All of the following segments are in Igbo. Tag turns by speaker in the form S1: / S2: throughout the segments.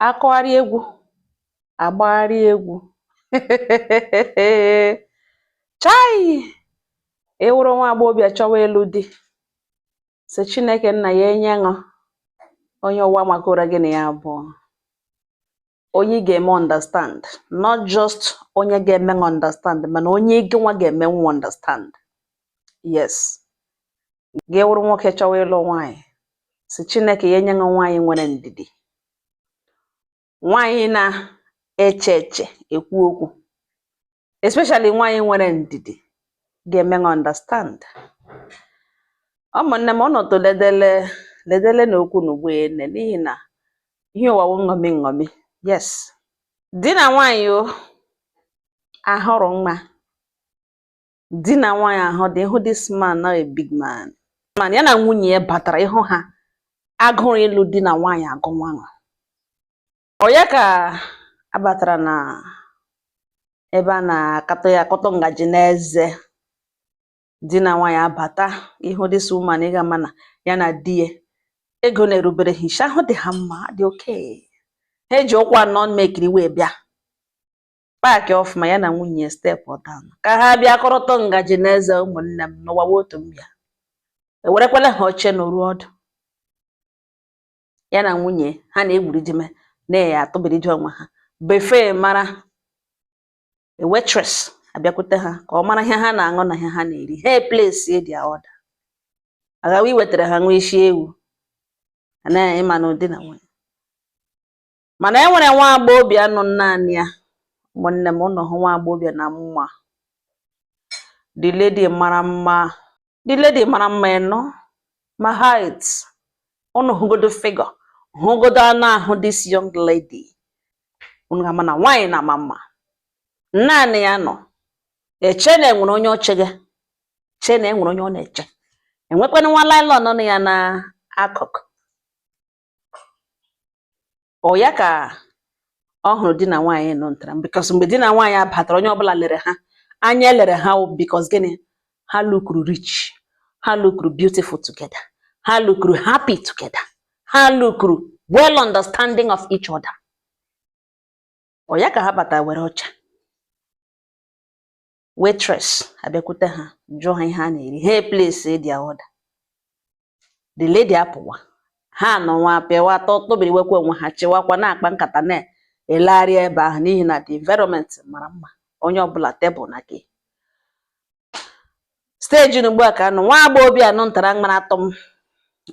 S1: akụgharị egwu agbagharị egwu chai ị wụrụ nwa agbọghọbịa chọwa ịlụ di sị chineke nna ya enye ṅụ onye ụwa makọra gị na ya abụọ onye ị ga-eme understand not just onye ga-eme ṅụ understand mana onye gị nwa ga-eme nwa understand yes gị wụrụ nwoke chọwa ịlụ nwaanyị sị chineke ya enye gị nwaanyị nwere ndidi nwaanyị na-eche eche ekwu okwu especially nwaanyị nwere ndidi ga-eme gị understand ụmụnne m ọnọdụ ledele ledele na okwu na ugbo ene n'ihi na ihe ụwa wụ nṅomi nṅomi yes di na nwaanyị o ahụrụ mma di na nwaanyị ahụ dị ị hụ this man na a big man man ya na nwunye ya batara ịhụ ha agụrụ ịlụ di na nwaanyị agụwa ṅụ ọ ya ka abatara na ebe a na-akatọ ya akụtụ ngaji n'eze di na nwaanyị abata ịhụ this woman ị ga-ama na ya na di ya ego na-erubere ha isi ahụ dị ha mma dị okay ha eji ụkwụ anọ mmekiri wee bịa paakị ọfụma ya na nwunye ya step down ka ha bịa kụrụtụ ngaji na eze ụmụnne m n'ụwa wụ otu mbịa ewerekwala ha oche nọrọ ọdụ ya na nwunye ha na-egwuri dime na-eyi atụbiridi onwe ha before a mara waitress abịakwute ha ka ọ mara ihe ha na-aṅụ na ihe ha na-eri ha eplace their order agawa iwetara ha nwa isi ewu na ị manụ di na nwunye mana e nwere nwa agbọghọbịa nọ naanị ya ụmụnne m ụnụ hụ nwa agbọghọbịa na mma the lady mara mma the lady mara mma ị nụ ma height ụnụ hụgodo figure hụgodo anụ ahụ this young lady unu ga-ama na nwaanyị na-ama mma naanị ya nọ eche na enwere onye o che gị chee na enwere onye ọ na-eche enwekwanụ nwa nylon nọ ya n'akụkụ ọ ya ka ọ hụrụ di na nwaanyị nọ ntara because mgbe di na nwaanyị abatara onye ọbụla lere ha anya elere ha because gịnị ha lukuru rich ha lukuru beautiful together ha lukuru happy together ha lukuru well understanding of each other ọ ya ka ha batara were oche waitress abịakwute ha jụọ ha ihe ha na-eri ha eplace their order the lady apụwa ha nọ nwa pịawa atọ tụbiri wekwa onwe ha chịwakwa na-akpa nkata na-elegharị ebe ahụ n'ihi na the environment mara mma onye ọbụla tebụl na gị steji na ugbu a ka anụ nwa agbọghọbịa anụ ntara mara atọ m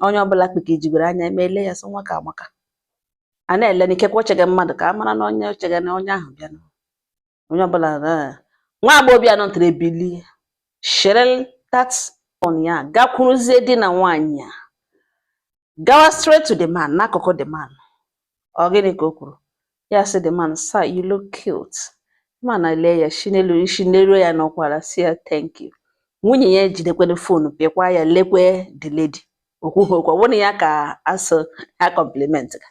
S1: onye ọbụla kpike jigoro anya eme ele ya sị nwa ka amaka a na-ele n'ikekwe o chege mmadụ ka a mara na onye o chege na onye ahụ bịa onye ọbụla eh, nwa agbọghọbịa nọtara ebili shere tat on ya gakwuruzie di na nwaanyị a gawa straight to the man n'akụkụ the man ọ gịnị ka o kwuru ya sị the man sir you look cute man elee ya si n'elu isi n'elu ya n'ọkwara sị ya thank you nwunye ya ejidekwere fonu pịakwa ya lekwe the lady o kwughị okwu ọ ya ka asụ ha compliment ka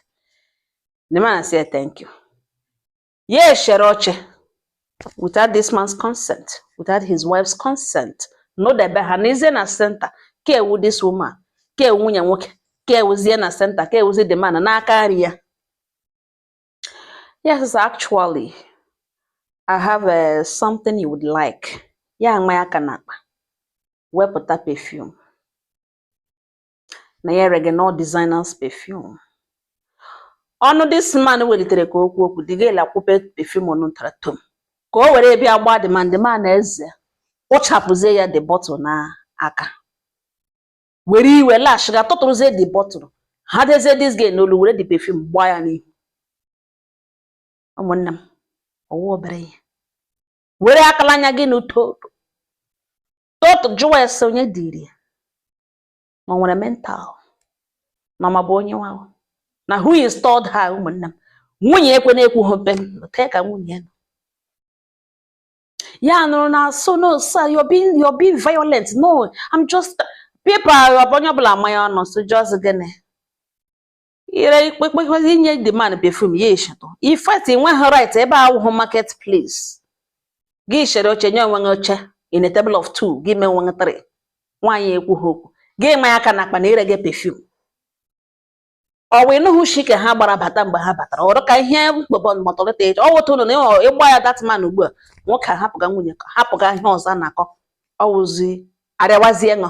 S1: the man sị ya thank you ya eshere oche without this man's consent without his wife's consent nọdebe ha n'ezie na center ka ewu this woman ka ewu nwunye nwoke kewuzie na center kewuzie the man n'aka nri ya yes actually I have uh, something you would like ya amaa aka n'akpa wepụta perfume na ya erega nụ designers perfume ọnụ this man welitere ka o kwuo okwu the girl ekwupe perfume ọnụ tara tom ka o were bịa gbaa the man the man eze kpụchapụzie ya the bottle n'aka were iwe lash ga tụtụrụzie the bottle hadezie this girl n'olu were the perfume gbaa ya n'ihu ụmụnne m ọ wụ obere ihe were akala anya gị n'uto totu jụwa ese onye dịrị ya ma ọ nwere mental na ma bụ onye nwa na who installed her ụmụnne m nwunye ekwe na-ekwu ha mpe tee ka nwunye nọ ya nụrụ na-asụ no sir you're being you're being violent no I'm just people onye ọbụla amanye ọnụ sị just gịnị ire ikpekpekpezi inye the man perfume ya eshetụ in fact ị nweghị right ebe a wụhụ market place gị eshere oche nye onwe gị oche in a table of two gị mee onwe gị three nwaanyị ekwughị okwu gị maa aka n'akpa na ị rege perfume ọ wee nụhụ shi ka ha gbara bata mgbe ha batara ọrụ ka ihe mkpọbọ mọtọlịta eji ọ wụta ụlọ na ịgba ya that man ugbu a nwoke ahapụga nwunye hapụga ihe ọzọ na-akọ ọ wụzi arịawazie ṅụ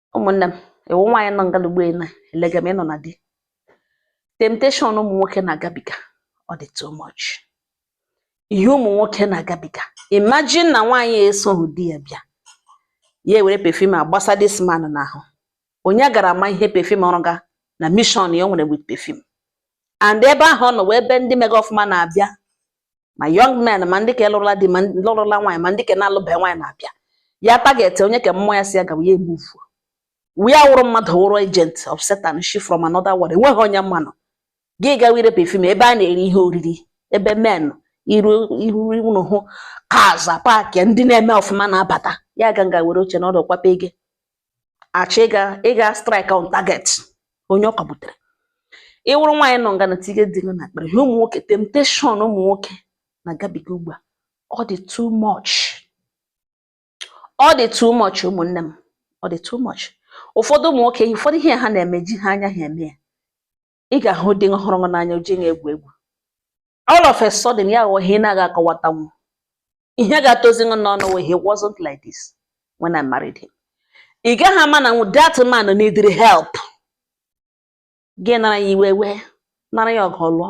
S1: ụmụnne m ị wụ nwaanyị nọ ngalugbo ị na-elega m ịnọ na the temptation ụmụ nwoke na-agabiga ọ dị too much ihe ụmụ nwoke na-agabiga imagine na nwaanyị esoghị di ya bịa ya ewere perfume agbasa this man n'ahụ onye gara ama ihe perfume ọ rụga na mission ya o nwere with perfume and ebe ahụ ọ nọ wụ ebe ndị mega ọfụma na-abịa ma young men ma ndị ka lụrụla di ma lụrụla nwaanyị ma ndị ka na-alụbeghị nwaanyị na-abịa ya target onye ka mmụọ ya sị ya gawa ya emuvu wee awụrụ mmadụ wụrụ agent of Satan si from another world enweghị onye manụ gị gawa irepe fim ebe a na-eri ihe oriri ebe men iru iru unu hụ cars park ndị na-eme ọfụma na-abata ya ga nga were oche nọdụ kwape gị achọ ịga strike on target onye ọ ka butere ị wụrụ nwaanyị nọ nga na tige di gị n'ekpere ihe ụmụ nwoke temptation ụmụ nwoke na-agabiga ugbu a ọ dị too much ọ dị too much ụmụnne m ọ dị too much ụfọdụ ụmụ nwoke ụfọdụ ihe ha na-eme ejighị anya ha eme ya ị ga-ahụ di hụrụ gị n'anya o ji gị egwu egwu all of a sudden ya aghọọ ihe ị na-agaghị akọwatanwu ihe ga-atọzi gị n'ọnụ wụ he wasn't like this when I married him ị gaghị ama na that man needed help gị nara ya iwe wee nara ya ọgụ lụọ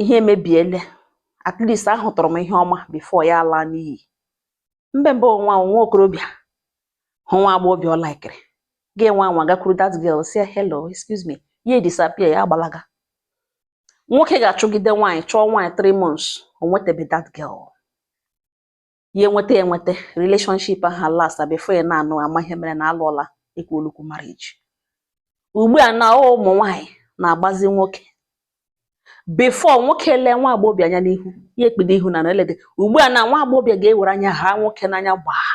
S1: ihe emebiele at least ahụtụrụ m ihe ọma before ya alaa n'iyi mgbe mbụ nwa nwa okorobịa hụ nwa agbọghọbịa ọ laikiri gaa nwa nwa gakwuru that girl sị hello excuse me ya disappear ya agbalaga nwoke ga-achụgide nwaanyị chụọ nwaanyị 3 months o nwetebe that girl ya enweta enweta relationship ahụ last before ị na-anụ amaghị ihe mere na a lụọla ekwu olukwu marriage ugbu a na ụmụ nwaanyị na-agbazi nwoke before nwoke lee nwa agbọghọbịa anya n'ihu ya ekpide ihu na nlede ugbu a na nwa agbọghọbịa ga-ewere anya ha nwoke n'anya gbaa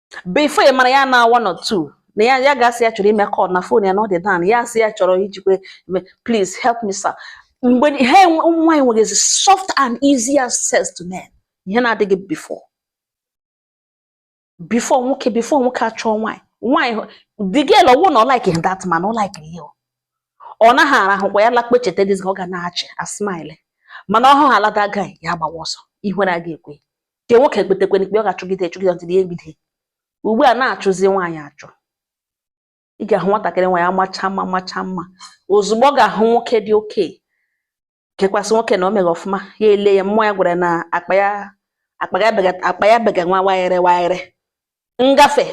S1: before ị mara ya na one or two na ya ya ga-asị ya chọrọ ime call na phone ya na ọ dị down ya asị ya chọrọ ijikwe please help me sir ugbu a ụmụ nwaanyị nwezi soft and easy access to men ihe na-adịghị before before nwoke before nwoke achọọ nwaanyị nwaanyị the girl ọ wụ na ọ like that man ọ like ya ọ naghị arahụkwa ya lakpe cheta dizi ọ ga na-achị a smile mana ọ hụhala that guy ya agbawa ọsọ ihere agaghị ekwe nke nwoke kpetekwere ikpe ọ ga-achụgide achụgide until ihe mbido ugbu a na-achụzi nwaanyị achụ ị ga-ahụ nwatakịrị nwaanyị amacha mma macha mma ozugbo ọ ga-ahụ nwoke dị okay kekwasị nwoke na o mere ọfụma ya ele ya mmụọ ya gwara na akpa ya akpa ya bega nwa wayere wayere agafe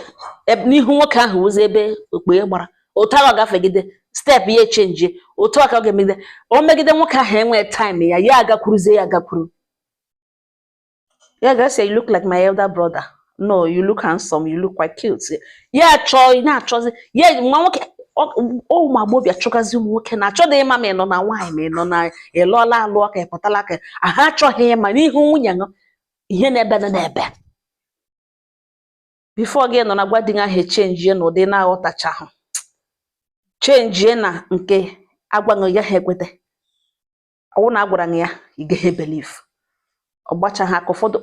S1: e, n'ihu nwoke ahụ wụzi ebe okpughe gbara otu ahụ ọ gafegide step ya echenjie otu a ka ọ ga-emegide o megide nwoke ahụ enwee time ya ya agakwuruzie ya agakwuru ya ga-asị you look like my elder brother no you look handsome you look quite cute ya achọ ị na-achọzi ya nwa nwoke ụmụ agbọghọbịa chọgazi ụmụ nwoke na-achọdị ịma ma ị nọ na nwaanyị ma ị nọ na ịlụọla alụ ọka ịpụtala aka ha achọghị ịma n'ihu nwunye ṅụ ihe na-ebe na na-ebe before gị nọ na-agwa di ahụ chenjie na ụdị na-aghọtachahụ chenjie na nke agwaghị ya ha ekweta ọwụ na agwara ya ị gaghị believe ọ gbacha ha aka ụfọdụ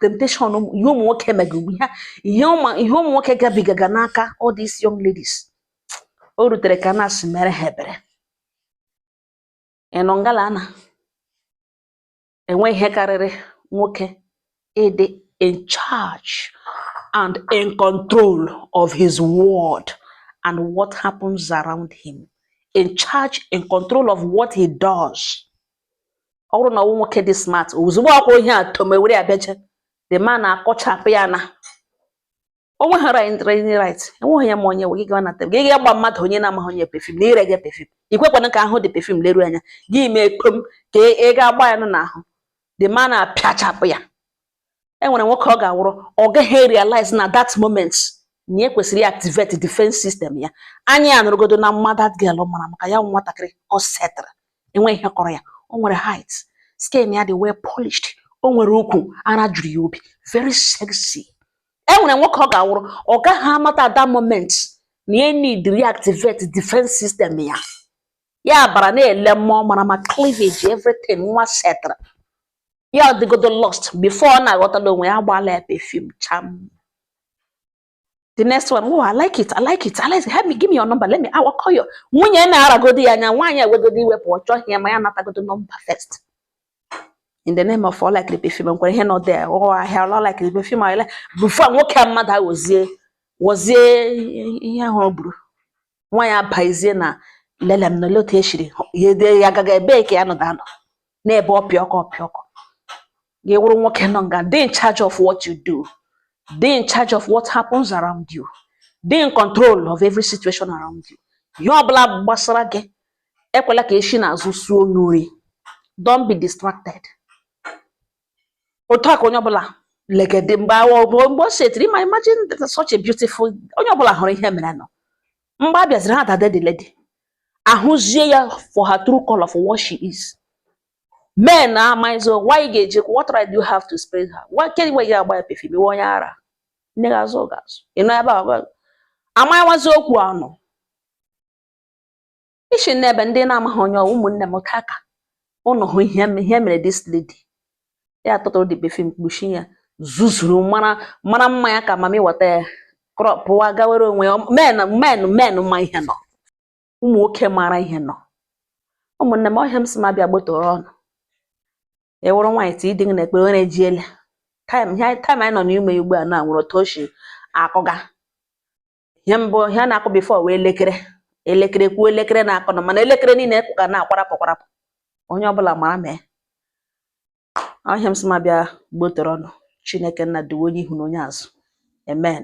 S1: temptation ihe ụmụ nwoke mega ugbu a ihe ụmụ nwoke gabigaga n'aka all these young ladies o rutere ka a na-asị mere ha ebere ị nọ ngala na enweghị ihe karịrị nwoke ịdị in charge and in control of his world and what happens around him in charge in control of what he does ọ wụrụ na ọ wụ nwoke dị smart ozugbo ọkwa ihe a tomewere ya beje the man akụchapụ ya na o nweghị right enweghị ya ma onye we gị gawa na table gị ga gba mmadụ onye na-amaghị onye perfume na ire gị perfume ikwekwana ka a hụ the perfume leru anya gị mee kpom ka ị e, e ga-agba ya nụ n'ahụ the man apịachapụ ya e nwere nwoke ọ ga-awụrụ ọ gaghị realize na that moment na e kwesịrị activate defense system ya anya ya anọrọgodo na mma that girl mara maka ya nwatakịrị ọ setara enweghị ihe kọrọ ya o nwere height skin ya dị well polished o nwere ukwu ara juru ya obi very sexy e nwere nwoke ọ ga-awụrụ ọ gaghị amata at that moment na ya need reactivate defense system ya ya bara na-ele mma ọ mara ma cleavage everything nwa setara ya dịgodo lost before ọ na-aghọtala onwe ya agbala ya perfume cham the next one oh i like it i like it i like it help me give me your number let me I will call you nwunye na-aragodo ya anya nwaanyị ewegodi iwe pụọ ọ chọghị ịma ya natagodi number first in the name of oh I like the perfume nkwere ihe nọ there oh yeah I like the perfume ahịa before nwoke a mmadụ aghọzie ghọzie ihe ahụ ọ bụrụ nwaanyị abazie na lele m nọle otu echiri ya ede ya agaghị ebe ka ya nọda anọ na-ebe ọpịa ọkụ ọpịa ọkụ gị wụrụ nwoke nọ nga dị in charge of what you do dị in charge of what happens around you dị in control of every situation around you ihe ọbụla gbasara gị ekwela ka eshi n'azụ suo n'ori don't be distracted otu a ka onye ọbụla legede mgbe mgbe mgbe o setiri ma imagine such a beautiful onye ọbụla hụrụ ihe mere nọ mgbe a bịaziri ha dade the lady a hụzie ya for her true color for what she is men na amaghịzi why ị ga-eji what right do you have to spray her why kedụ ihe i ji agba ya perfume ị wụ onye ara nne gị azụghị gị azụ ị nọ ebe a amawazi okwu anọ isi n'ebe ndị na-amaghị onye ọ wụ ụmụnne m ka ka ụnụ hụ ihe m- ihe mere this lady ya tụtụrụ the perfume kpuchi ya zuzuru mara mara mma ya ka mami wọta ya krọpụwa gawere onwe ya men men men ma ihe nọ ụmụ nwoke mara ihe nọ ụmụnne m ọ ihe a m sị m bịa gbotoro ụnụ ị wụrụ nwaanyị tii di gị n'ekpere onye ji ele time ihe anyị- time anyị nọ n'ime ya ugbu a na nwere otu o si akụga ihe mbụ ihe a na-akụ before wee elekere elekere kwuo elekere na-akụnụ mana elekere niile ka na-akwarapụ kwarapụ onye ọbụla mara mee ọhịa m sị ma bịa gbotoro ọnụ chineke nna duwe onye ihu na onye azụ amen